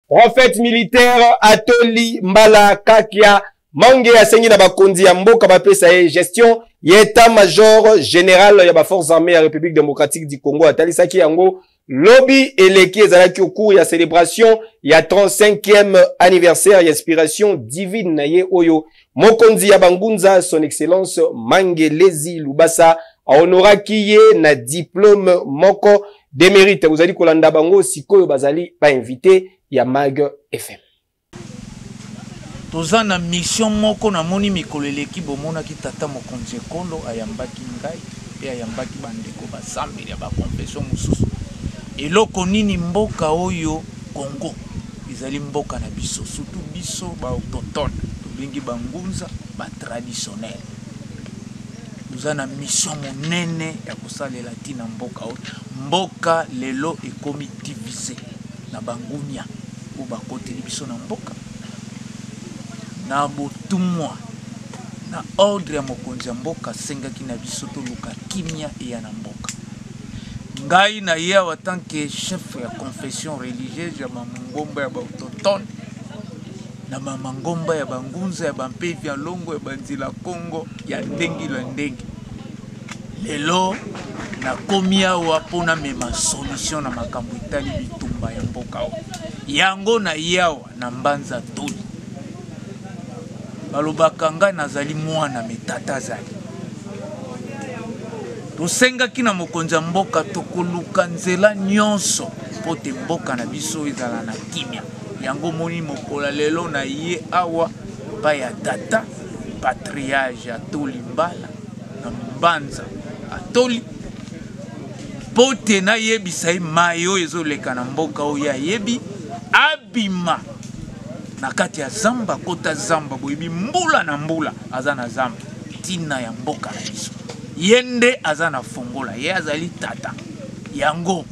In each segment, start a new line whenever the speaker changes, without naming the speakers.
Prophète militaire Atoli Mbala Kakia Mange asengi na bakonzi ya mboka bapesa ye gestion ya etat major general ya baforce armée ya république démocratique du congo atalisaki yango lobi eleki ezalaki ocours ya célébration ya 35e anniversaire ya inspiration divine na ye oyo Mokonzi ya bangunza son excellence Mangelezi Lubasa aonoraki ye na diplome moko de merite. Bozali kolanda bango sikoyo, bazali ba invité ya Mag FM.
Toza na mission moko na moni mikolo eleki bomonaki tata mokonzi ekolo ayambaki ngai pe ayambaki bandeko basambeli ya ba confession mosusu eloko nini mboka oyo Congo Ezali mboka na biso surtout biso ba autochtones tobengi ba ngunza ba traditionnels. Toza na mission monene ya kosalela ntina mboka oyo. Mboka lelo ekomi divise na bangunia oyo bakoteli biso na mboka na botumwa na ordre ya mokonzi ya mboka asengaki na biso toluka kimia eya na mboka. ngai na ye awa tant que chef ya confession religieuse ya bangomba ya baautochtone na bamangomba ya bangunza ya bampevi ya longo ya banzila kongo ya ndenge na ndenge lelo nakomi awa mpo namema solution na makambo etali bitumba ya mboka yango na ye awa Na Mbanza Toli balobaka ngai nazali mwana me tata azali. Tosengaki na mokonzi ya mboka tokoluka nzela nyonso mpo te mboka na biso ezala na kimya. Yango moni mokola lelo na ye awa epai ya tata patriage atoli mbala na mbanza atoli mpo te nayebisa ye mai oyo ezoleka na mboka oyo ayebi abima na kati ya zamba kota zamba boyebi mbula na mbula aza na zamba ntina ya mboka na biso ye nde aza na fongola ye azali tata yango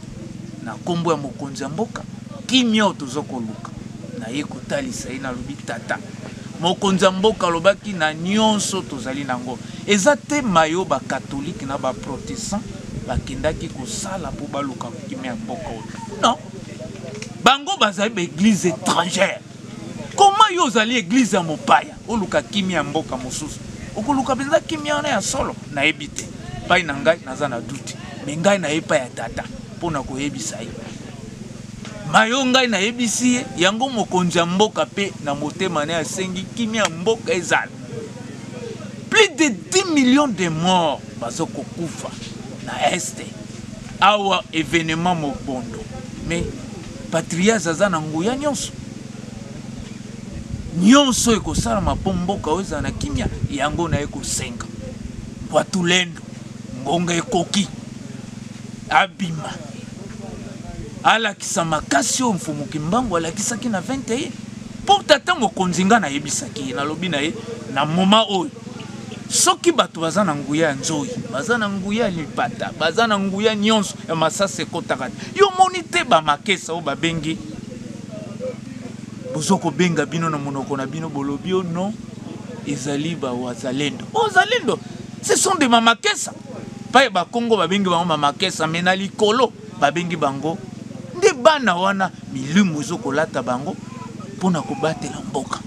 na nkombo ya mokonzi ya mboka kimia oyo toza koluka na ye kotalisa ye nalobi tata mokonzi ya mboka alobaki na nyonso tozali na yango Eza te maye oyo ba catholique na ba protestant bakendaki kosala po baluka kimia ya mboka oyo non bango bazali ba eglise etrangère koma yo ozali eglise ya mopaya oluka kimia ya mboka mosusu okoluka mpenza kimia wana ya solo nayebi te pai na ngai naza na duti me ngai naye pai ya tata mpo na koyebisa ye mayo ngai nayebisi ye yango mokonzi ya mboka mpe na motema naye asengi kimia ya mboka ezala plus de 10 millions de morts bazokokufa na este awa evenement mobondo mais patrias aza na nguya nyonso nyonso ekosalama mpo mboka oyo ezala na kimya yango na ye kosenga mpo atulendo ngonga ekoki abima alakisa makasi oyo mfumu kimbangu alakisaki na 21 Pourtant ta mokonzi nga na yebisaki na lobi na ye na moment oyo soki bato baza na nguya ya nzoi baza na nguya ya lipata baza na nguya nyonso ya masasi ekotaka te yo moni te bamakesa oyo babengi bozo kobenga bino na monoko na bino bolobi o oh non ezali bawazalendo ozalendo ce sont de mamakesa paye bakongo babengi bango mamakesa me na likolo babengi bango nde bana wana milimu ezokolata bango mpo na kobatela mboka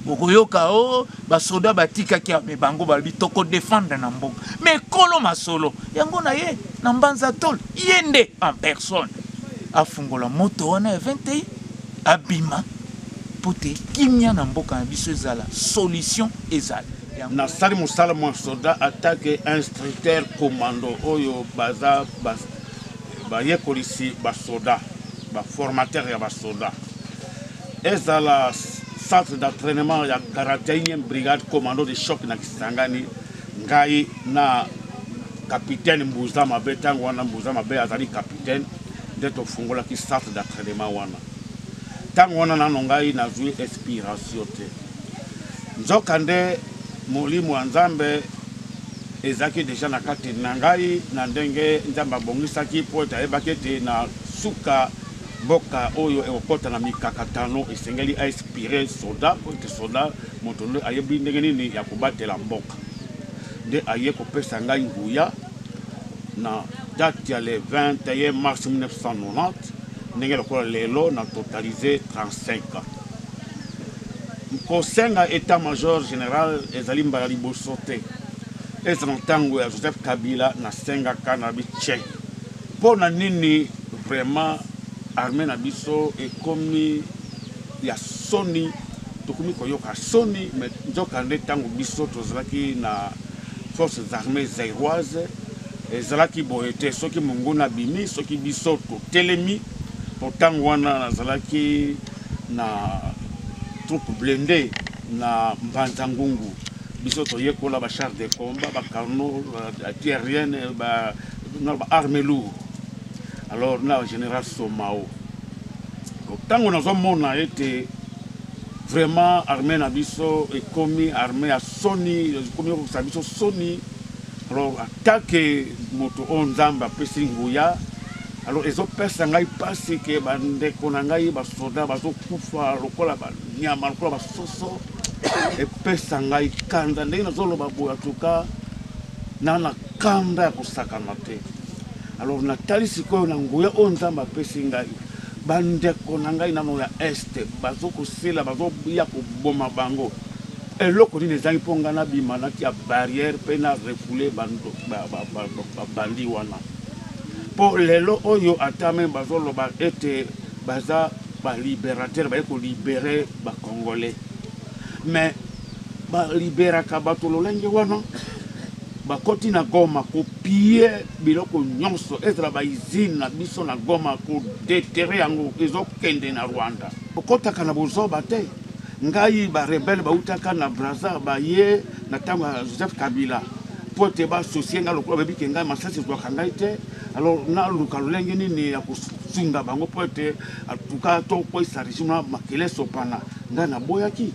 okoyoka o oh, basoda batikaki ame bango balobi tokodefendre na mboka me ekolo masolo yango na ye na mbanza tole ye nde en personne afungola moto wana ya 21 abima mpo te kimia na mboka na biso ezala solution ezala nasali
mosala mwa soda atake instructeur commando oyo baza bayekolisi basoda baformateur ya basoda ezala centre d'entraînement ya 41e brigade commando de choc na kisangani ngai na capitaine mbuza mabe ntango wana mbuza mabe azali capitaine nde tofungolaki centre d'entraînement wana ntango wana nano ngai nazwi inspiration te Nzokande, Molimo ya Nzambe ezalaki deja na kati na ngai, na ndenge Nzambe abongisaki, mpo ete ayebaki ete na suka mboka oyo ekokota na mikakatano, esengeli a inspire soda, mpo ete soda moto nde ayebi ndenge nini ya kobatela mboka. Nde aye kopesa ngai nguya na date ya le 21 mars 1990 ndenge lokola lelo na totalise 35 ans. Kosenga etat major general ezali mbala liboso te, ezala na ntango ya Joseph Kabila nasengaka na biche mpo na nini vraiment armee na biso ekomi ya soni, tokomi koyoka soni. Me nzokande ntango biso tozalaki na forces armées zairoise ezalaki boye te, soki monguna abimi, soki biso totelemi, mpo ntango wana nazalaki na troupe blende na mbanza ngungu biso toyekola ba char de combat ba carno aérienne ba na ba arme lourd alors na général somao ntango nazomona ete vraiment armée na biso ekomi armée ya soni ekomi kokisa biso soni alors atake moto oyo nzambe apesi nguya Alors ezopesa ngai mpasi ke bandeko na ngai basoda bazokufa lokola banyama lokola basoso epesa ngai kanda ndenge nazoloba boye atuka na na kanda ya kosakana te alors natali sikoyo na nguya oyo nzambe apesi ngai bandeko na ngai nano ya este bazokosela bazoya koboma bango eloko nini ezangi mpo ngai nabima natia barrière mpe na refoule babandi wana Po lelo oyo ata meme bazo loba ete baza ba liberateur baye ko libere ba congolais mais ba liberaka bato lolenge wana bakoti na goma ko pille biloko nyonso ezala ba usine na biso na goma ko detere yango ezo kende na rwanda okotaka na bozoba te ngai ba rebelle bautaka na braza baye na ntango ya joseph kabila mpo te basosie ngai lokola bayebi ke ngai masasi ezwaka ngai te alors naluka lolenge nini ya kosunga bango mpo ete atuka tokweyisa regime na makele esopana ngai naboyaki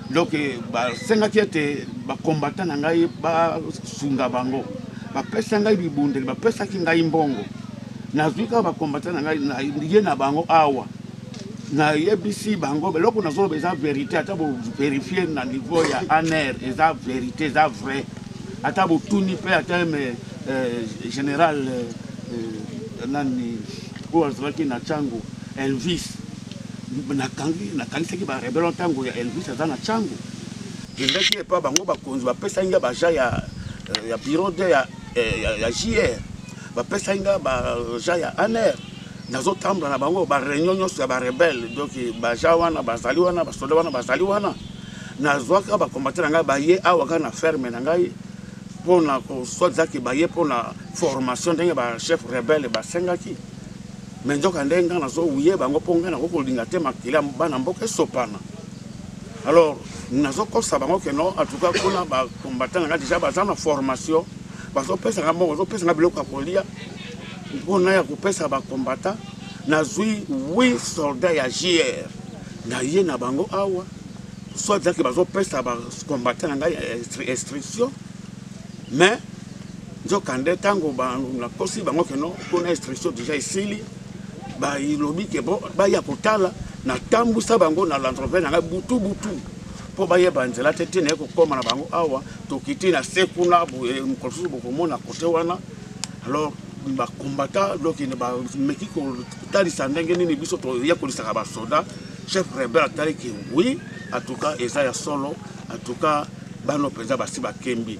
donc eh, basengaki ete bakombata na ngai basunga bango bapesa ngai bibundeli bapesaki ngai mbongo nazwi kaka bakombata na ngai ye na bango awa nayebisi bango eloko nazoloba eza verité ata boverifie na niveau ya aner eza verité eza vrai ata botuni mpe ata me euh, général euh, euh, nani oyo azalaki na cango elvis nakangisaki barebelo ntango ya elvis aza na cango kendaki epa bango bakonzi bapesaki nga baja ya, ya bureau de ya, ya, ya jr bapesaki nga baja ya aner nazo tambola na bango ba réunion nyonso ya ba rebelle donc baja wana bazali wana basoda wana bazali wana nazwaka bakombate na ngai baye awa kaka na ferme na ngai mpo na koswadizaki baye mpo na formation ndenge bachef rebelle basengaki me nzoka nde ngai nazowuye bango mpo ngai nakoki kolinga te makila bana mboka esopana alors nazokosa bango ke non atuka kuna bakombate na ngai deja baza na formation bazopesa ngai mbongo bazopesa ngai biloko ya kolia mpona ya kopesa bakombata nazwi 8 soldat ya jr na ye na bango awa soit ezalaki bazopesa bakombata na ngai instruction mais nzokande ntango nakosi bango keno mpona instruction deja esili balobi ke bo baya kotala natambwisa bango na landrove na ngai butu butu mpo bayeba nzela te te naye kokóma na bango awa tokiti na se kuna mokolo mosusu bokomona kote wana alors ba combattant donc bameki kotalisa ndenge nini biso toyekolisaka basoda chef rebel ataliki oui en tout cas eza ya solo en tout cas bano mpenza basi bakembi